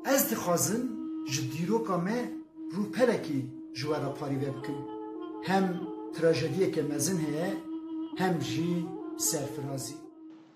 Ez dixwazim ji dîroka me rûpelekî ji we re parîve bikim. Hem trajediyeke mezin heye hem jî serfirazî.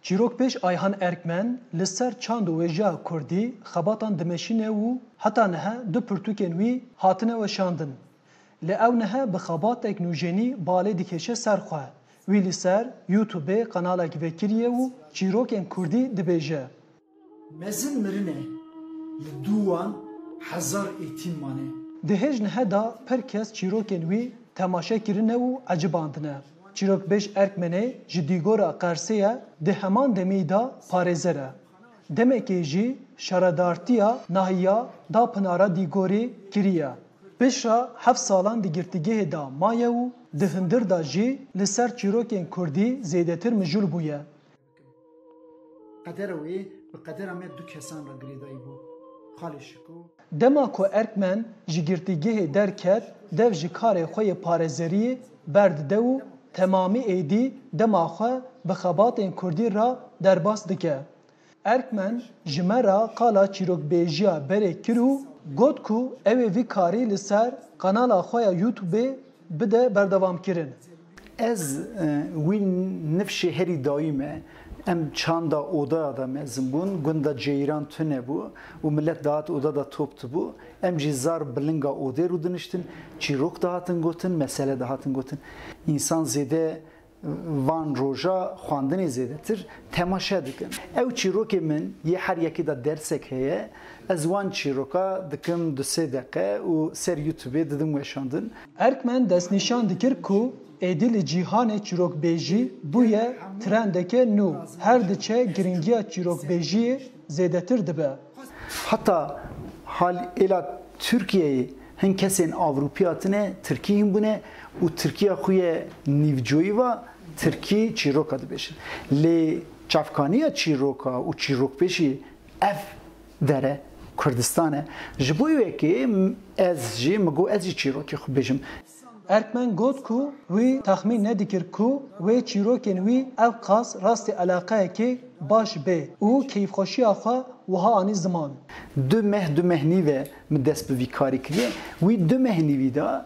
Çîrok pêş Ayhan Erkmen li ser çand û wêjeya kurdî xebatan dimeşîne û heta niha du pirtûkên wî hatine weşandin. Lê ew niha bi xebatek nûjenî balê dikêşe ser xwe. Wî li ser Youtubê qenalek vekiriye û çîrokên kurdî dibêje. Mezin mirin e, li dû wan hezar êtîm mane. Di hêj nihe de pir kes çîrokên wî temaşe kirine û ecibandine. Çîrokbêj Erkmenê ji dîgora Qersê ye di heman demî de parêzer e. Demekê jî şaredartiya nahiya da Pinara Dîgorê kiriye. Bişra heft salan di girtîgehê de maye û di hundir de jî li ser çîrokên kurdî zêdetir mijûl bûye. Qedera wê bi qedera me du kesan re girêdayî bû. Xalê Şiko. Dema ku Erkmen ji girtîgehê derket, dev ji karê xwe yê parêzeriyê berdide û temamî êdî dema xwe bi xebatên kurdî re derbas dike. Erkmen ji me re qala çîrokbêjiya berê kir û got ku ew ê vî karî li ser kanala xwe ya Youtubê bide berdewamkirin. Ez wî nifşê herî dayî me. Em çanda odeya de mezin bûn, gunda ceyran tune bû û milet dihat oda de top dibû. Em jî zar bi linga odê rûdiniştin, çîrok dihatin gotin, mesele dihatin gotin. Însan zêde van roja xwendinê zêdetir temaşe dikin. Ew çîrokê min yê her yekê de dersek heye, ez wan çîroka dikim du sê deqe û ser youtubê didim weşandin. Erkmen destnîşan dikir ku êdî li cîhanê çîrokbêjî bûye trendeke nû, her diçe girîngiya çîrokbêjiyê zêdetir dibe. Heta hal êla Tirkiyeyê hin kesên Avrupî hatine Tirkî hîn bûne û Tirkiya xwe yê nîvcoyî va Tirkî çîroka dibêjin. Lê çavkaniya çîroka û çîrokbêjî Ev dere Kurdistan e. Ji bo wekî ez jî min got ez jî çîrokê xwe bêjim. Erkmen got ku wî texmîn nedikir ku wê çîrokên wî ewqas rastî eleqeyekê baş bê û keyfxweşiya xwe wiha anî ziman. Du meh du meh nîv e min dest bi vî karî kiriye. Wî du meh nîvî da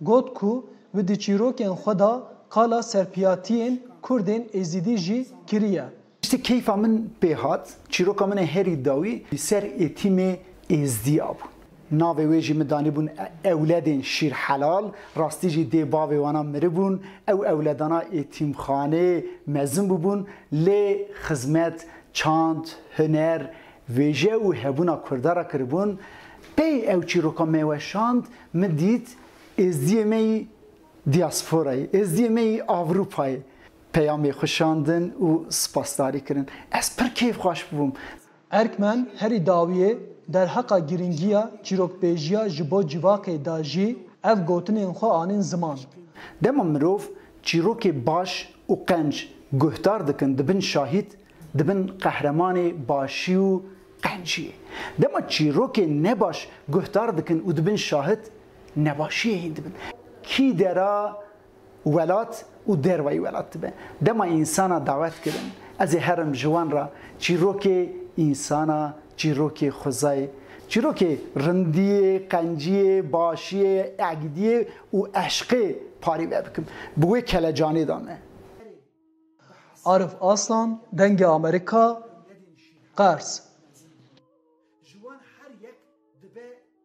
Got ku bi di çîrokên xwe de qala serpiyatiyên Kurdên Êzidî jî kiriye. Tiştê keyfa min pê hat, çîroka min ê herî dawî li ser Êtîmê Êzdî a bû. Navê wê jî min danîbûn Ewledên Şîrhelal, rastî jî dê bavê wan a miribûn. Ew ewledana Êtîmxanê mezin bûbûn lê xizmet, çand, huner, wêje û hebûna Kurda re kiribûn. Pey ew çîroka me weşand Min dît êzdiyê me yî dîasporayê, êzdiyê me yî Ewropayê peyamê xwe şandin û spasdarî kirin. Ez pir keyfxweş bûm. Erkmen herî dawiyê derheqa girîngiya çîrokbêjiya ji bo civakê da jî ev gotinên xwe anîn ziman. Dema mirov çîrokê baş û qenc guhdar dikin di bin şahîd, Dibin qehremanê başî û qenciyê. Dema çîrokên nebaş guhdar dikin û dibin şahid, nebaşiyê hîn dibin. Kî dera welat û derweyî welat dibe. Dema însana dawet kirin, ez ê herim ji wan re, çîrokê însana, çîrokê xwezayê, çîrokê rindiyê, qenciyê, başiyê, egdiyê û eşqê parî vebikim. Bi wê kelecanê de me. Arif Aslan, Dengê Amerîka, Qers.